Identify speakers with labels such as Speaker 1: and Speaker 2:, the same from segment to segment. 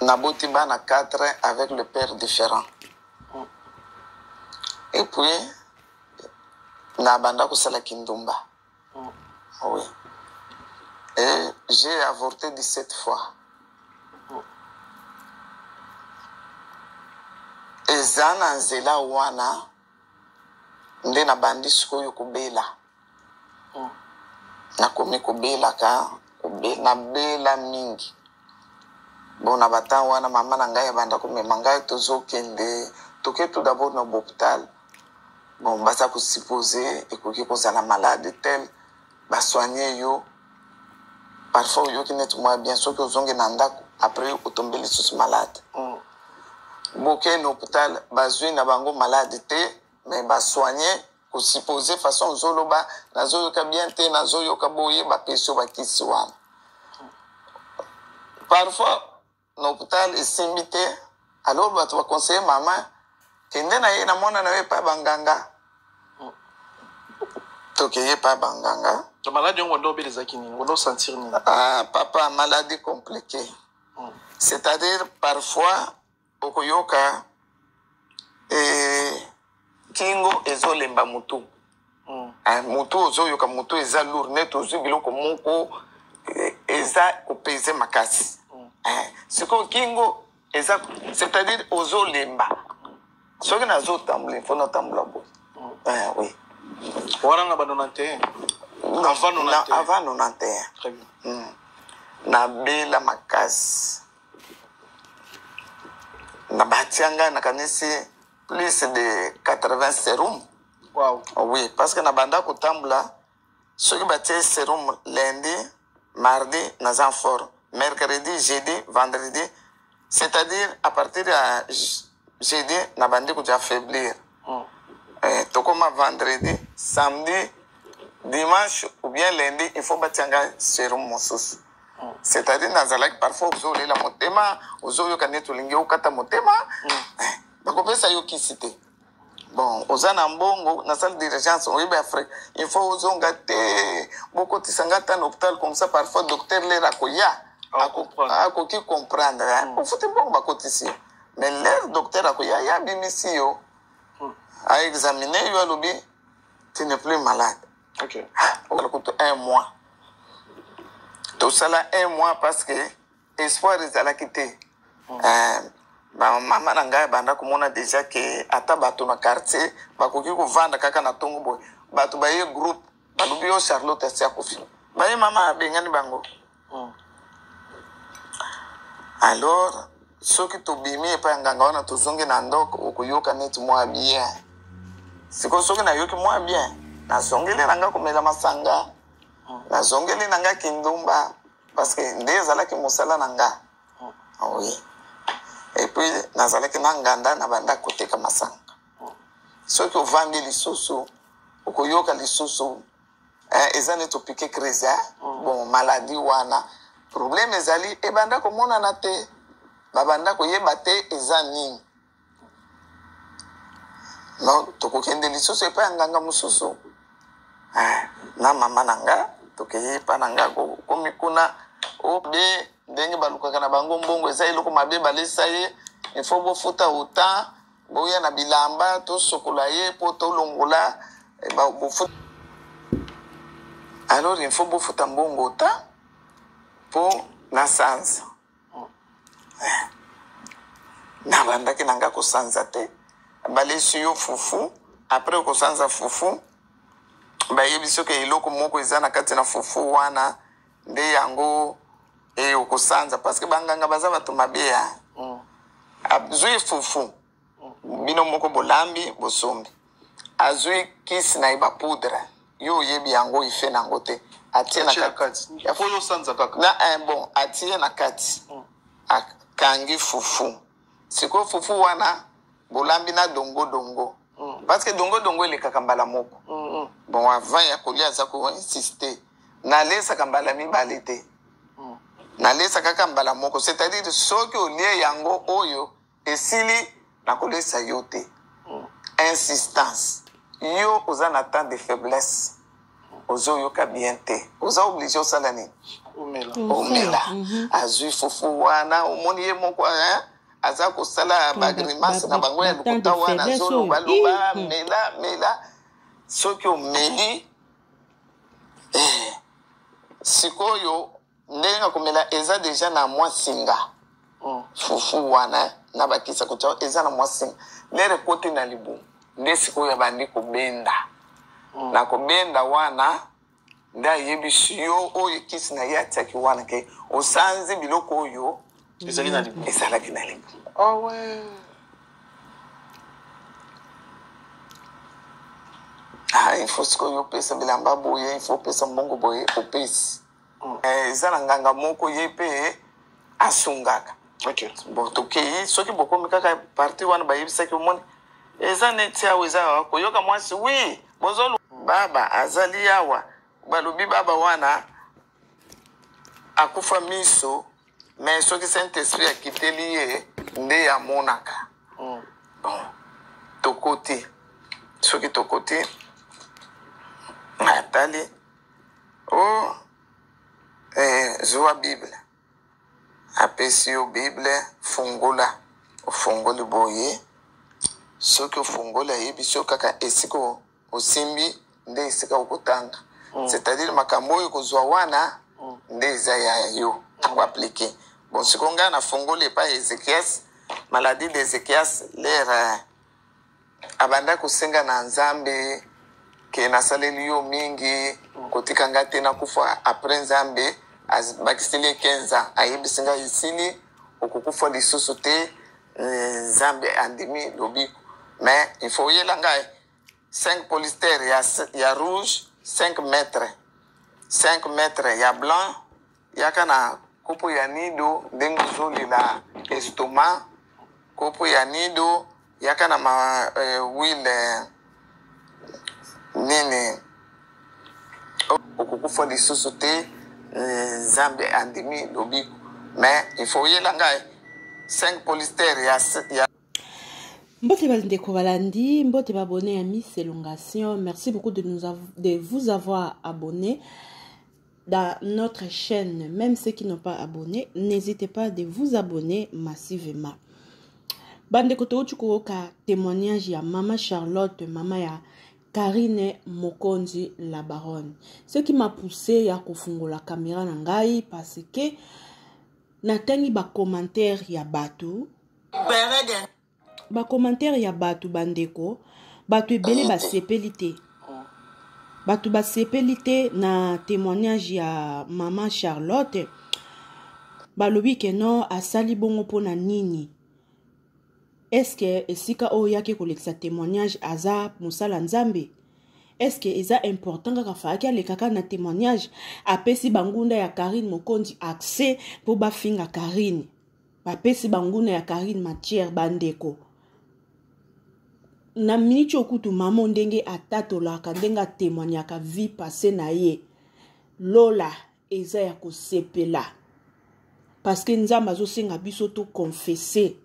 Speaker 1: naboti bana 4 avec le père différent et puis nabanda kosala kindumba mm. oui et j'ai avorté 17 fois mm. eza na nzela wana nde nabandi sikoyo kobela nakomi kobelaka kobe, nabela mingi bona batango wana mama na ngai abanda komema ngai tozokende toke tout d'abord na bopital bon baza kosupose ekoki kozala malade tel basoigne yo parfois oyoki neti mwa bien soki ozongi na ndako après otombe lisusu malade mm. boke na hopital bazwi na bango malade te mais basoigne ko suppose façon ozoloba nazoyoka bien te nazoyoka boye bapesi yo bakisi wana parfois na hôpital esimbi te alors bato baconseille mama kende na ye na mwana na yo epai banganga tokeye epai banganga maladi yango wanda
Speaker 2: obelezaki nini wanda osentir nini ah, papa
Speaker 1: maladi compliqué hmm. c'est-à-dire parfois okoyoka eh, kingo ezolemba mutu mm. ah, mutu ozoyoka mutu eza lour neti ozwi biloko moko eh, eza kopeze makasi mm. eh, sikoyo kingo eza c'est-à-dire ozolemba soki nazotambola mpo natambola boye mm. eh, oui wana
Speaker 2: na ba 91 avant 91
Speaker 1: avant 91 très bien
Speaker 2: mm.
Speaker 1: nabela makasi na batia ngai nakanisi plus de 80 serum wow. oui
Speaker 2: parce que na
Speaker 1: banda kotambola soki batie serum lundi mardi naza en forme mercredi jeudi vendredi c'est-à-dire à partir ya jeudi nabandi koja faiblir eh, tokoma vendredi samedi dimanche ou bien lundi il faut batia ngai serum mosusu mm. c'est-à-dire nazalaki parfois ozolela motema ozoyoka neti olingi okata motema mm. eh, bakopesa yo kisi te bon oza na mbongo na salle d'urgence oyebi afrique il faut ozonga te bokotisa ngai ata na hôpital comme ça parfois docteur lera akoya akoki comprendre mm. ofuti mbongo bakotisi mais lere docteur akoya ye abimisi yo aexamine yo alobi tu ne plus malade okay.
Speaker 2: okala kutu
Speaker 1: un mois tosala un mois parce que espoir ezalaki te mm. euh, bamama na ngai abanda komona deja ke ata bato na quartier bakoki kovanda kaka na ntongo boye bato baye groupe balobi yo charlotte asi akufi baye mama abengani bango Hmm. Alors, soki tobimi epai ya nganga wana tozongi na ndoko okoyoka neti mwa bien sikoyo soki nayoki mwa bien nazongeli na ngai komela masanga hmm. nazongeli na ngai kindumba parce que nde ezalaki mosala na ngai hmm. oui epuis nazalaki na nganda na banda koteka masanga soki ovandi lisusu okoyoka lisusu eh, eza nde topike crise eh? mm. bon maladi wana probleme ezali ebanda komonana te babanda koyeba te eza nini no tokokende lisusu epai ya nganga mosusu eh, na mama na nga tokei epai na nga komi kuna obe ndenge balukaka na bango mbongo eza eloko mabe balesa ye ifo bofuta autant boya na bilamba tosokola ye mpo tolongola eh, bofuta alors il faut bofuta mbongo ta mpo nasanza eh. nabandaki na ngai kosanza te balesi yo fufu apres okosanza fufu bayebi soki eloko moko eza na kati na fufu wana nde yango e eh, okosanza parce que banganga baza bato mabe ya mm. azwi fufu mm. bino moko bolambi bosombi azwi kisi na ye bapoudre yo oyebi yango ife na yango te atie na
Speaker 2: kati na eh, bon atie
Speaker 1: na kati mm. akangi fufu sikoyo fufu wana bolambi na dongo dongo mm. parce que dongo dongo elekaka mbala moko mm -hmm. bon avant ya kolia aza koinsiste nalesaka mbala mibale te mm. nalesa kaka mbala moko c'est-à-dire soki olie yango oyo esili nakolesa yo te mm. insistance yo oza na temps de faiblesse ozoyoka bien te oza oblige osala nini omela mhm. azwi fufu wana omoni ye moko aza kosala bagrimace na bango ya lokuta wana azolobaloba hmm. mela mela soki omeli eh, sikoyo ndenge na komela eza deja na mwa singa hmm. fufu wana na bakisa kotya eza na mwa singa lere ekoti na libumu nde sikoyo abandi kobenda hmm. na kobenda wana nde ayebisi yo oyo ekisi na ye atiaki wana ke osanzi biloko oyo ezali na libulu ezalaki na libulu awe ah, ah ifo sikoyo opesa bilamba boye ifo opesa mbongo boye opesi mm. eh, eza na nganga moko ye mpe asungaka okay. bon tokei soki bokomi kaka parti wana bayebisaki omoni eza neti awa eza koyoka mwasi wi Bozolu baba azali awa balobi baba wana akufa miso mais soki saint esprit akiteli ye nde amonaka mm. bon tokoti soki tokoti atali o oh, eh, zuwa bible apesi yo bible fungola ofungoli boye soki ofungoli ayebisi yo kaka esika osimbi nde esika okotanga mm. c'est-à-dire makambo oyo kozwa wana mm. nde eza ya yo mm. akoaplike bon siko ngai nafungoli epai ya ezekias maladie de ezekias lere abanda kosenga na nzambe ke nasaleli yo mingi kotika nga te nakufa apres nzambe abakiseli ye 15 ans ayebisi ngai esili okokufa lisusu te eh, nzambe andimi lobiko mais il faut oyela ngai 5 polister ya, ya rouge 5 mètre 5 mètre ya blanc Yaka na kopo ya nido ndenge ozolela estoma kopo ya nido yaka na ma eh, wile eh, nini okokufa lisusu te eh, nzambe eh, andimi lobiko mais il faut oyela ngai 5 polister ya, ya
Speaker 3: mbote bandeko balandi mbote babone ya miss elongation merci beaucoup de, nous av de vous avoir abonné dans notre chaîne, même ceux qui n'ont pas abonné, n'hésitez pas de vous abonner massivement. Bande kotouti koyoka témoignage ya Mama Charlotte, Mama ya Karine Mokonzi la baronne. Ce qui m'a poussé ya kofungola caméra na ngai parce que natangi ba commentaires ya bato. ba commentaire ya batu bandeko batu ebele basepeli te bato basepeli te na témoignage ya mama charlotte balobi ke non asali bongo mpo na nini eske esika oyo oyaki kolekisa témoignage aza mosala nzambe eske eza important kaka faaki alekaka na témoignage apesi bangunda ya karine mokonzi accès mpo bafinga karine bapesi banguna ya carine matière bandeko na miniti okutu mamo ndenge atatolaka ndenge atemoignaka vie passe na ye lola eza ya kosepela parceke nzambe azosenga biso toconfese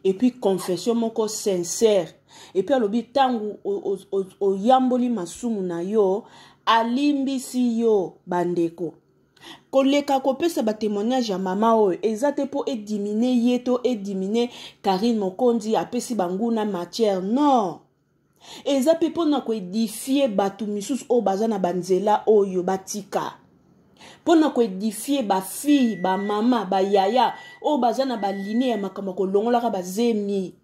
Speaker 3: epuis confession moko sincere epuis alobi ntango oyamboli masumu na yo alimbisi yo bandeko koleka kopesa batemoignage ya mama oyo eza te mpo edimine ye to edimine karine mokonzi apesi banguna matière non eza mpe mpo na koedifie bato misusu oyo baza na banzela oyo batika mpo na koedifie bafille bamama bayaya oyo baza na baline ya makambo ya kolongolaka bazemi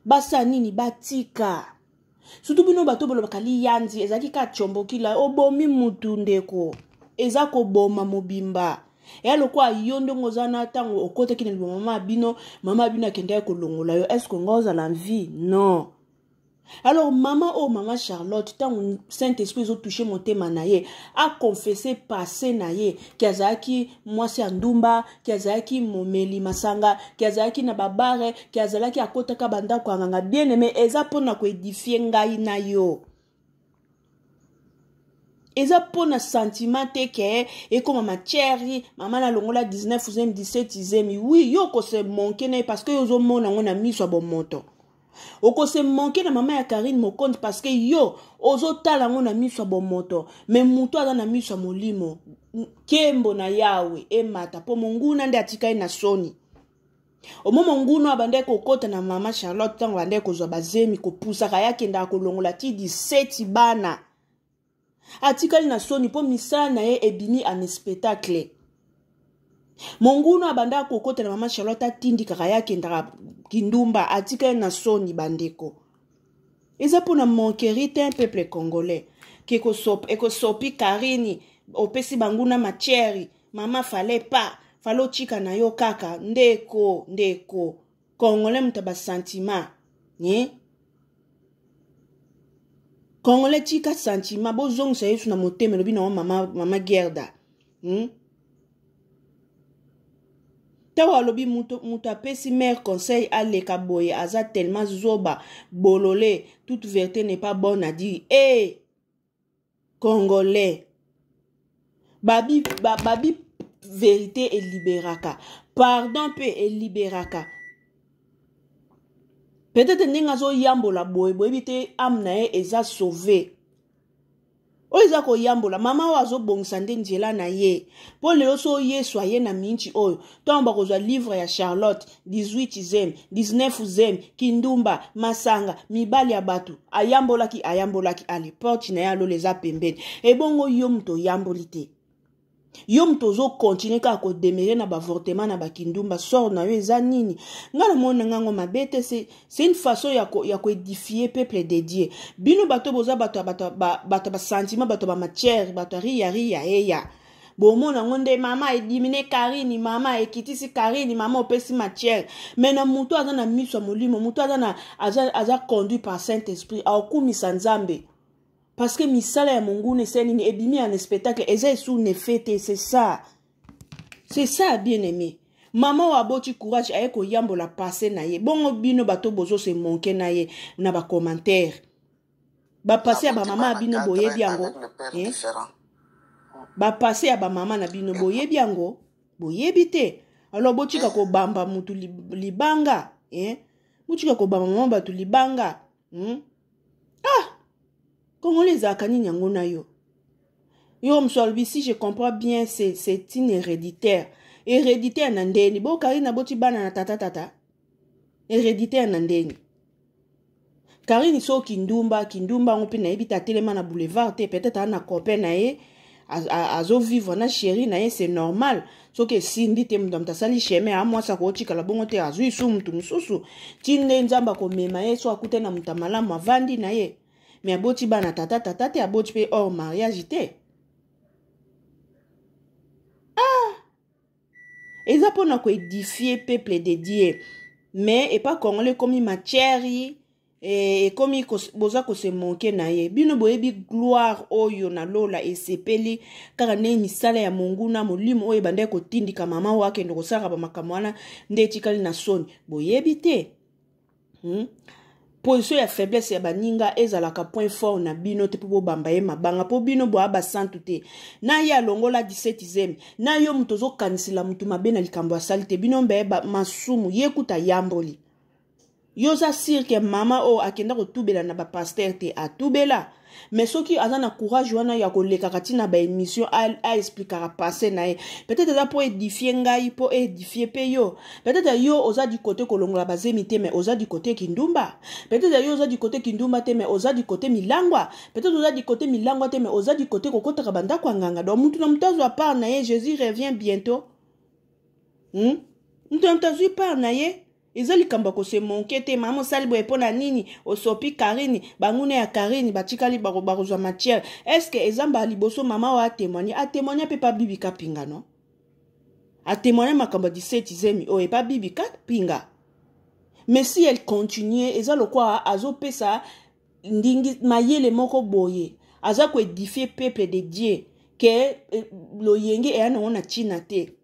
Speaker 3: basala nini batika surtout bino bato bolobaka liyanzi ezalaki ka combokila obomi mutu ndeko eza koboma mobimba eya lokola yo ndenge oza na ntango okotaki na liboma mama bino mama bino akendaki kolongola yo estce nga ozala vie non alors mama oyo oh, mama charlotte ntango saint esprit ezotouche motema na ye aconfesse passe na ye ke azalaki mwasi ya ndumba ke azalaki momeli masanga ke azalaki na babare ke azalaki akotaka bandako ya nganga bien aime eza mpo na koedifie ngai na yo eza mpo na sentiment te ke ekoma matière mama nalongola 19 zemi 17 zemi wi yo okose monke na ye parce que yo ozomona yango na miso ya bomoto okose manke na mama ya karine mokonzi parce que yo ozotala yango na miso ya bomoto me moto aza na miso ya molimo nkembo na yawe emata mpo monguna nde atikali na soni omo monguna abandaki kokɔta na mama charlotte ntango abandaki kozwa bazemi kopusaka ye akendaka kolongola ti 17 bana atikali na soni mpo misala na ye ebimi en spectacle mongunu abandaka kokota na mama charlotte atindikaka ye akendaka kindumba atikali na soni bandeko eza mpo na manqueri te un peuple congolais ekosopi karini opesi banguna matiere mama fale pa fale otika na yo kaka ndeko ndeko congolais moto ya basentiment eh? congolais tika sentiment bozongisa yesu na motema elobi nango mama, mama gerda hmm? ntango alobi moto apesi mare conseil aleka boye aza tellement zoba bolole toute verité n'est pas bonne adi e eh! hey! congolais babi, ba, babi verite eliberaka pardon mpe eliberaka peut-être ndenge azoyambola boye boyebi te ame na ye eza sauve oyo eza koyambola mama oyo azobongisa nde nzela na ye mpo lelo so yesu aye na minti oyo ntango bakozwa livre ya charlotte 18 zem 19 zem kindumba masanga mibali ya bato ayambolaki ayambolaki ale porte na ye alola eza pembeni ebongo yo moto oyamboli te yo moto ozokontinue kaka kodemere na baavortement na bakindumba sort na yo eza nini ngai namoni na ngai yango mabe te c'est une façon ya, ko, ya koedifie peuple de dieu bino bato boza bato ya basentiment bato ya bamatière bato ya riya riya eya bomona yango nde mama edimine karini mama ekitisi karini mama opesi matière me na moto aza na miso ya molimo moto aza, na, aza, aza conduit par saint esprit aokumisa nzambe parce que misala ya monguna ese nini ebimi ya na spectacle eza esu nefe te c'est ça c'est ça bien aimé mama oyo aboti courage aye koyambola passe na ye bongo bino bato bozo se monke na ye na bacommentaire bapase ya bamama ya bino boyebi yango eh? bapase ya bamama na bino boyebi yango boyebi te alors botika eh. kobamba motu libanga eh? botika kobamba mama bato libanga hmm? ah kongole ezalaka nini yango na yo yo mosu alobi si je comprends bien c'est une héréditaire héréditaire na ndeni bokari na boti bana na tata tata héréditaire na ndeni Karine so kindumba kindumba yango mpe nayebi te atelema na boulevard te peut-être ana copain na ye azovivre na sheri na ye c'est normal soki esimbi te moto moto asali chemin ya mwasi akotikala bongo te azwi su moto mosusu ti nde nzambe akomema ye so akutani na moto ya malamu avandi na ye me aboti bana tata tata te aboti mpe hors mariage te eza mpona koedifie peuple de dieu mais epa congolais ekomi matière eh, ekomi kos, boza kose manke na ye bino boyebi gloire oyo na lola esepeli kaka ndenge misala ya monguna molimo oyo ebandaki kotindika mama oyo akende kosalaka bamakambo wana nde etikali na soni boyebi te hmm? position ya faiblesse ya baninga ezalaka point fort na bino te mpo bobamba ye mabanga mpo bino boya basantu te na ye alongola 17 zemi na yo moto ozokanisela motu mabe na likambo asali te bino mbaye masumu ye kuta ayamboli yo oza sirke mama oyo akenda kotubela na bapaster te atubela mais soki aza na courage wana ya kolekaka ti na baémission aexplikaka passé na ye peut-être eza mpo edifie ngai mpo edifie mpe yo peut-être yo oza du côté kolongola bazemi te mais oza du côté kindumba peut-être yo oza du côté kindumba te mais oza du côté milangwa peut-être oza du côté milangwa te mais oza du côté kokotaka bandako ya nganga donc motu na motu azwa part na ye jésus revient bientôt hmm? motu na motu azwi part na ye eza likambo ya kose monke te mama osali boye mpo na nini osopi karine banguna ya karine batikali bakozwa matière estce eza mbala liboso mama oyo atemoigne atemoigne mpe pa bibika pinga no atemoigne makambo ya 17 zemi oyo epa bibika pinga mais si elle continue eza lokola azopesa ndingi mayele moko boye aza koedifie peuple de dieu ke eh, loyenge eya nango na ntina te